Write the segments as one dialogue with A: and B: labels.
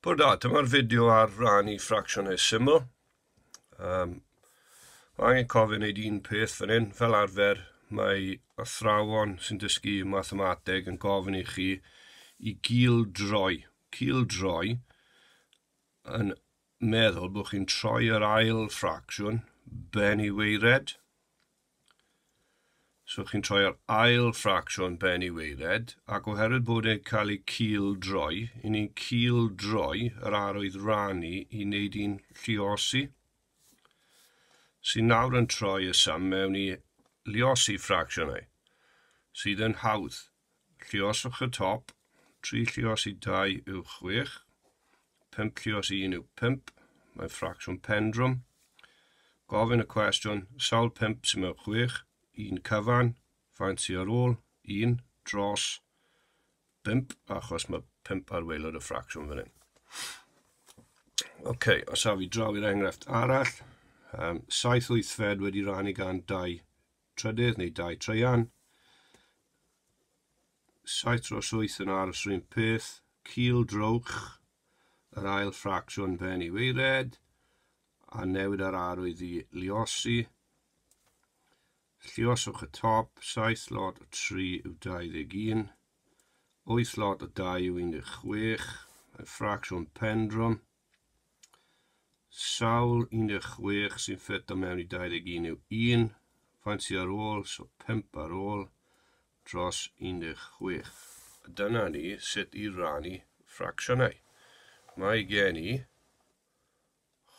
A: Pwyl da, dyma'r fideo ar rannu ffracsiynau syml. Um, angen cofio wneud un peth fan hyn, fel arfer mae athrawon sy'n dysgu mathemateg yn gofyn i chi i gil droi, cil droi yn meddwl bod chi'n troi yr ail ffracsiwn ben i weired, So chi'n troi ar ail ffracsiwn ben i weiled, ac oherwydd bod e'n cael ei cil droi, i ni'n cil droi yr arwydd rannu i wneud i'n lliosi, sy'n nawr yn troi y sum mewn i lliosi ffracsiynau, sydd yn hawdd. Lluoswch y top, tri lluos i dau yw chwech, pump lluos i un yw pump, mae'n ffracsiwn pendrwm. Gofyn y cwestiwn, sawl pump sy'n mewn chwech, un cyfan, faint sy'n ar ôl, un, dros, bump, achos mae pump ar weilod y ffracsiwn fan hyn. OK, os a fi draw i'r enghraifft arall, um, saith wythfed wedi rannu gan dau trydydd neu dau traean, saith dros wyth yn aros yr un peth, cil drwch yr ail ffracsiwn pen i weired, a newid ar arwydd i liosi. Llioswch y top, saith lot o tri yw 21, wyth lot o dau yw 16, mae'n ffracsiwn pendrwm, Sawl 16 sy'n ffeto mewn i 21 yw 1, faint sydd ar ôl, so 5 ar ôl dros 16. A dyna ni sut i rannu ffracsiynau. Mae gen i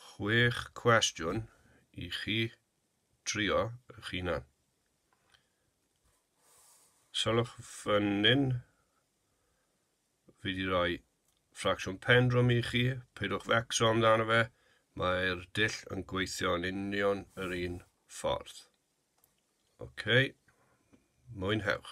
A: chwech cwestiwn i chi trio eich hunan. Sylwch fan hyn, Fi wedi rhoi ffracsiwn pen drwm i chi, peidiwch fecso amdano fe, mae'r dull yn gweithio yn union yr un ffordd. Ok, mwynhewch.